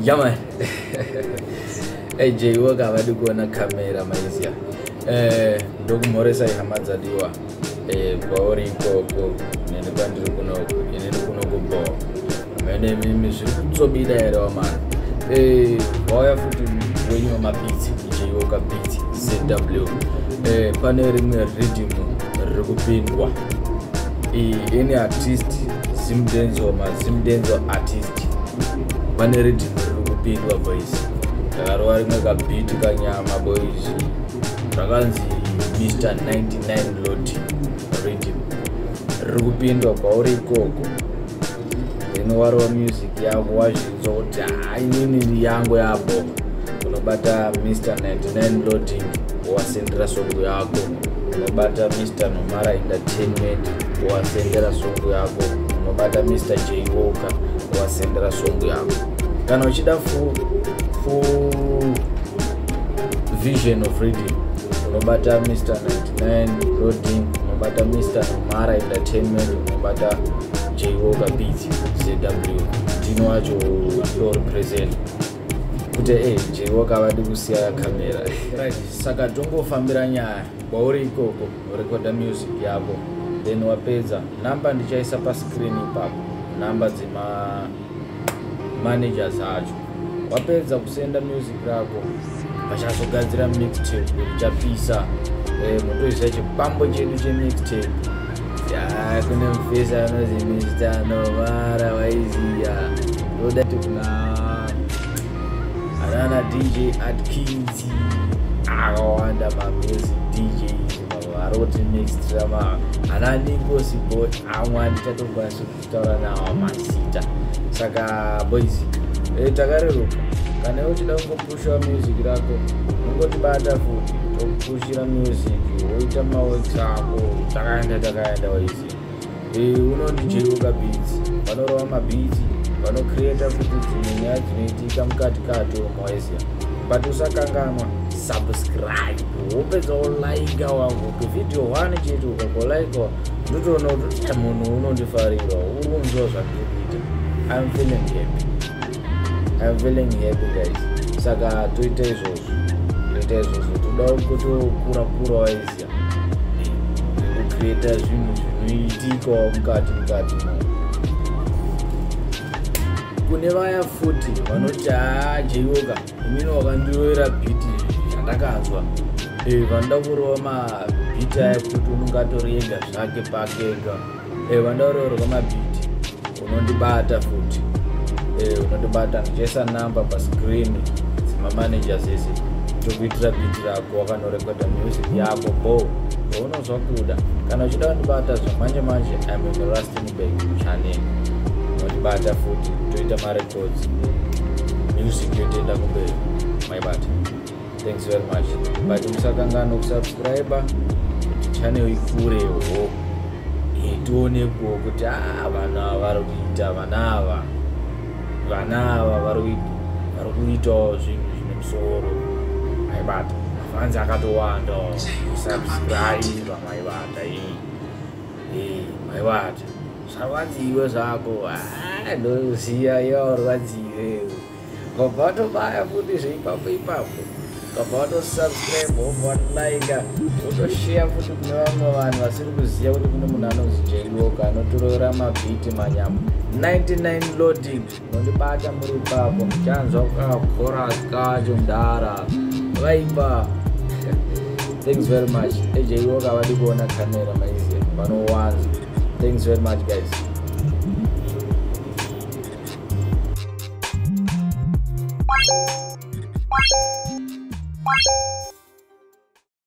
Yaman. hey Jay, welcome. I do go on a camera, Malaysia. Eh, ndokumhoresa ihama dzadiwa. Eh, kwauri ikoko neni kwandiri kunoku inini kunokubhowa mene mimi zviri kutsobida here wamana eh, wauya futi wenyu wamapitsi icheiwoka pitsi cw eh, pane rimwe ridhimu riri kupindwa ini artist zimdenzo mazimdenzo artist pane ridhimu riri kupindwa boys ndakarova rimwe kabhiti kanyama boys rakanzi mr 19 landlord rhythm riri kupindwa kwauri ikoko then warova music yako wazvinzwa kuti hainini yangu yapo unobata mr 99 loading wasendera songo yako unobata mr nomara entertainment wasendera songo yako unobata mr j walker wasendera songo yako kana uchida fu, fu vision of reading unobata mr 99 roding unobata mr mara entertainment unobata jwoka beat zw ndino wacho ndo represent kuti e jwoka vadi kusiya kamera right. saka tongofambira nyaya kwauri ikoko rekoda music yako then wapedza number ndichaisa pascreen ipapo number dzema managers acho wapedza kusenda music rako vachazogadzira mixtape richapisa eh, motoisa chipambo chedu chemixtape kune mufesa anozi mr novara waiziya toda tikuna anana dj at kinzi akawanda mamusic dj varoti mixtrama ananikosi boy amwani tatokwanisa taura nawo mazita saka boys e, takareruka kana iwe uchida kungopushiwa music rako ungotibata futi tokupushira music woita maworks ako takaenda takaenda waisi e, unondijeuka beats vanorova mabeats vanocreata futi dzimwe nyaya dzinoitika mukati kato moisia but usakanganwa subscribe wopedza olaika wangu kuvideo one chete ukakolaikaa ndotoona kuti munhu unondifarira uri kunzwa zvandikuita im feeling happy im feeling happy guys saka toita izvozvo toita izvozvo toda kutokura kura waiziya kucreata zvinhu zvinoitikawo mukati mukati kune vaya futi vanoti haa jeiwoka Mimi wakandirovera beat yandakanzwa. Eh vanda kurova ma beat aya kuti unenge atoriega zvake pake ega. Eh vanda kurova ma beat unondibata futi. Eh unondibata ndichesa number pa screen dzima managers ese. Tokuitira beat rako wakanorekoda music yako bo. Unozwa kuda kana uchida kundibata zvamanje manje I'm in Rustenburg channel. Unondibata futi toita mari Sodzi. Music yotenda kumberi. My bad. Thanks very much. But musakangano kusubscriber channel ikure ho. Itione kuo kuti ah vana vari kuita vana ava. Vana ava vari kuita vari kuitawo zvinhu zvine musoro. My bad. Mafanzi akatowanda subscribe maibata. Eh. Hey, eh, my bad. zvarwadziwe zvako ah, ndoziva yawarwadziwe ngobva watobaya futi zveipapo ipapo ngobva watosubscribe wobva watilika wotosheya futi kune vamwe vanhu vasiri kuziva kuti kune munhu anonzi jaiwoka anotorora mabhiti manyama 99 loading Unondibata muri ipapo ndichanzwa kakora kacho mdara vaipa thanks very much ejiwo kavadi kuona kamera maize vanowanza thanks very much guys